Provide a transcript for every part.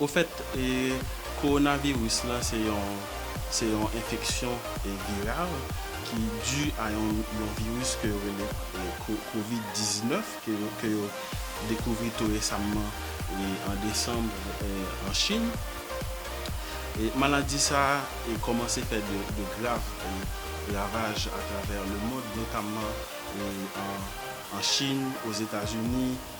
Ofèt, kowonaviris la se yon se yon enfeksyon viral ki di a yon yon viris ke yo rele covid 19 ke yo ke yo dekouvri tou resamman an desanm an Chin. Maladi sa a kòmanse fè de de grav ravaj atravè lemond notamman an Chin, Ozetazini,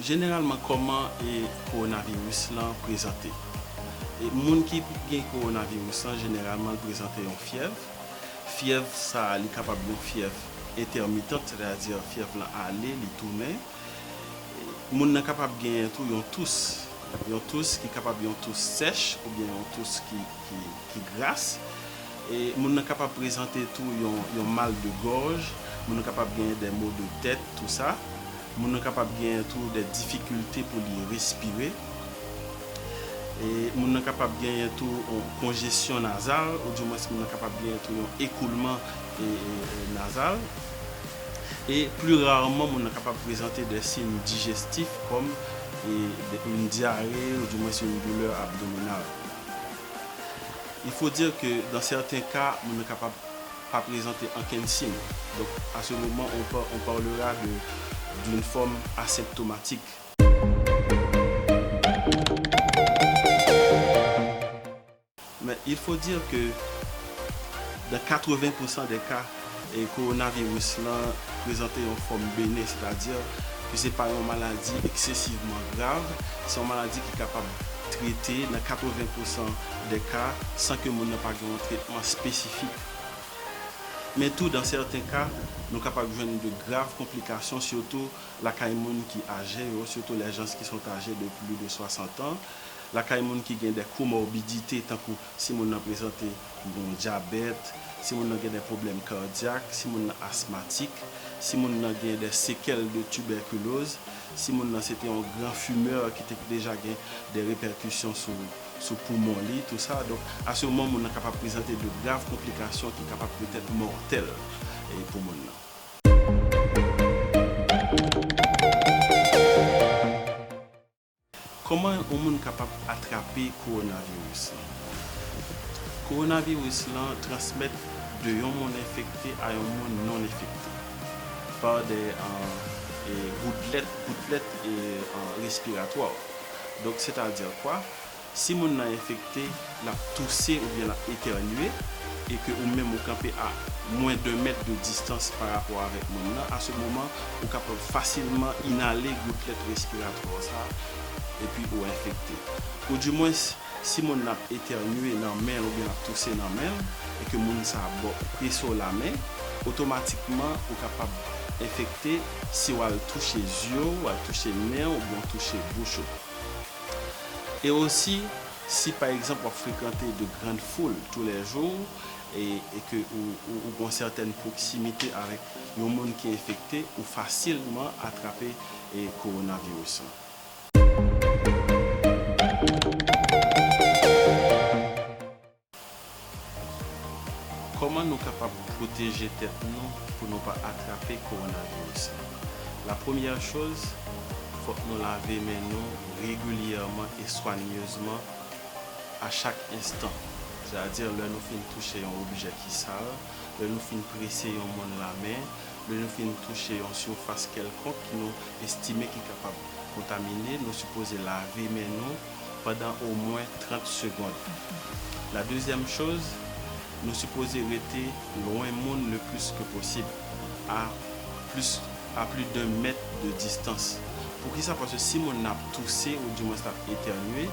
Jeneralman kòman kowonaviris lan prezante? Moun ki gen kowonaviris lan jeneralman l prezante yon fyèv, fyèv sa li kapab yon fyèv entèmitant sètadi fyèv lan ale li tounen, moun nan kapab genyen tou yon tous, yon tous ki kapab yon tous sèch oubyen yon tous ki gras, moun nan kapab prezante tou yon mal de gòj, moun nan kapab genyen dè mo de tèt tou sa, Moun nan kapab genyen tou dè difikilte pou li respire. E moun nan kapab genyen tou yon konjesyon nazal ou di mwens moun nan kapab genyen tou yon ekoulman nazal. E pli rarman moun nan kapab prezante dè siyn dijestif kòm yon dyare ou di mwens yon doulè abdominal. Il faut dire que dans certains cas moun nan kapab pa prezante ankenn siy, donk a se moman on pa on parlera de d'une forme asymptomatique. Mais il faut dire que dans 80 pour 100 des cas coronavirus lan prezante yon fòm benen, c'est-à-dire ke se pa yon maladi excessivement grave, se yon maladi ki kapab trete nan 80 pour 100 des cas san ke moun nan pa gen yon tretman spesifik. fi. Men tou dan sèten ka, nou kapab jwenn de grav konplikasyon sitou lakay moun ki aje yo, sitou les gens qui sont ages de plus de 60 ans, lakay moun ki gen de komòbidite tankou si moun nan prezante yon dyabèt, si moun nan gen de pwoblèm kardyak, si moun nan asmatik, si moun nan gen de sekèl de tibèkiloz, si moun nan se te yon gran fumeur ki te deja gen de repèkisyon sou. sou poumon li, tou sa. Donk, a se moman moun nan kapab prezante de grav konplikasyon ki kapab petèt mòtèl pou moun nan. Kòman yon moun kapab atrape kowonaviris lan? Kowonaviris lan transmèt de yon moun enfekte a yon moun non enfekte pa de goutlet, goutlèt, respiratwa. Donk sètadi kwa? Si moun nan enfekte, l ap touse oubyen l ap etènye, e ke ou menm ou kanpe a mwen d'un mèt de distans pa rapò avèk moun nan, a se moman ou kapab fasilman inale goutlèt respiratwa w sa, epi ou enfekte. Ou di mwens, si moun nan ap etènye nan men l oubyen l ap touse nan men l, e ke moun sa bo prese w lamen, otomatikman ou kapab enfekte, si w al touche zye w, w al touche nen w oubyen w touche bouch ou. E osi, si pa egzanp w ap frekante de grand foul tou lè jou e ke ou gon sètèn pwoksimite avèk yon moun ki enfekte, ou fasilman atrape kowonaviris lan. Kòman nou kapab pwoteje tèt nou pou nou pa atrape kowonaviris la? La premyè choz, fòk nou lave men nou regilyèman e swanyezman a chak enstan. Sètadi lè nou fin touche yon objè ki sal, lè nou fin prese yon moun lamen, lè nou fin touche yon sifas kèlkonk ki nou estime ki kapab kontamine, nou sipoze lave men nou. pandan omwen 30 segond. La dezyèm choz, nou sipoze rete lwen moun le plis ke posib, a plis a pli d'un mèt de distans. Poukisa? Paske si moun nan ap touse ou di mwens lap etènye,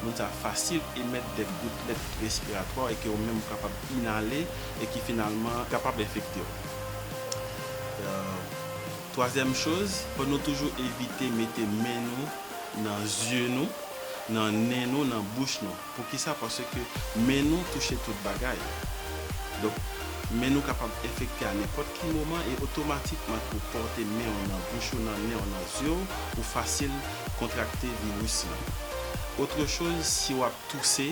moun sa fasil emèt dè goutlèt respiratwa e ke ou menm ou kapab inale e ki finalman kapab enfekte w. Twazyèm choz, fò nou toujou evite mete men nou. nan zye nou, nan nen nou, nan bouch nou. Poukisa? Paske men nou touche tout bagay. Donk, men nou kapab enfekte a nenpòt ki moman e otomatikman ke w pòte men w nan bouch ou, nan nen w, nan zye w, ou fasil kontrakte viris lan. Otre choz, si w ap touse.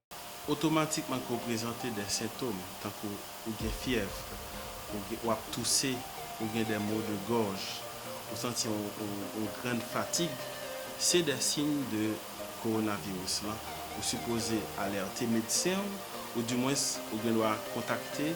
Otomatikman ke w prezante de sentom tankou ou gen fyèv, ou ap touse, ou gen de maux de gorge, ou santi yon grand fatigue, se de siy de coronavirus lan. Ou sipoze alerte medsen w, ou di mwens ou gen dwa kontakte.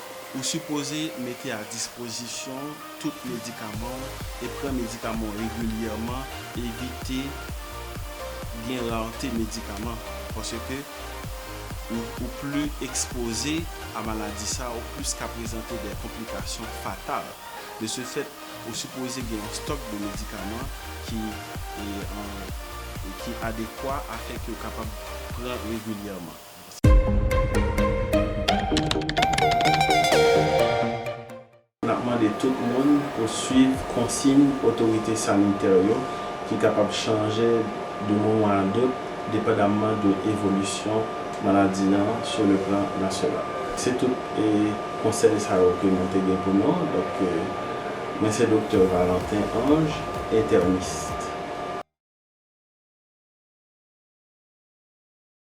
Ou sipoze mete a dispozisyon w tout medikaman w e pran medikaman w regilyèman, evite gen rarte medikaman paske ou pli ekspoze a maladi sa ou plis ka prezante dè konplikasyon fatal. De se fèt, ou sipoze gen yon stòk de medikaman ki ki adekwa afè ke ou kapab pran regilyèman. N ap mande tout moun pou swiv konsiy otorite sanitè yo ki kapab chanje de moman a dot depandamman de evolisyon maladi an sou le plan nasyonal. Se tout konsèy sa yo ke mwen te gen pou nou. Donk, mwen se Doktè Valentin Ange, entènist.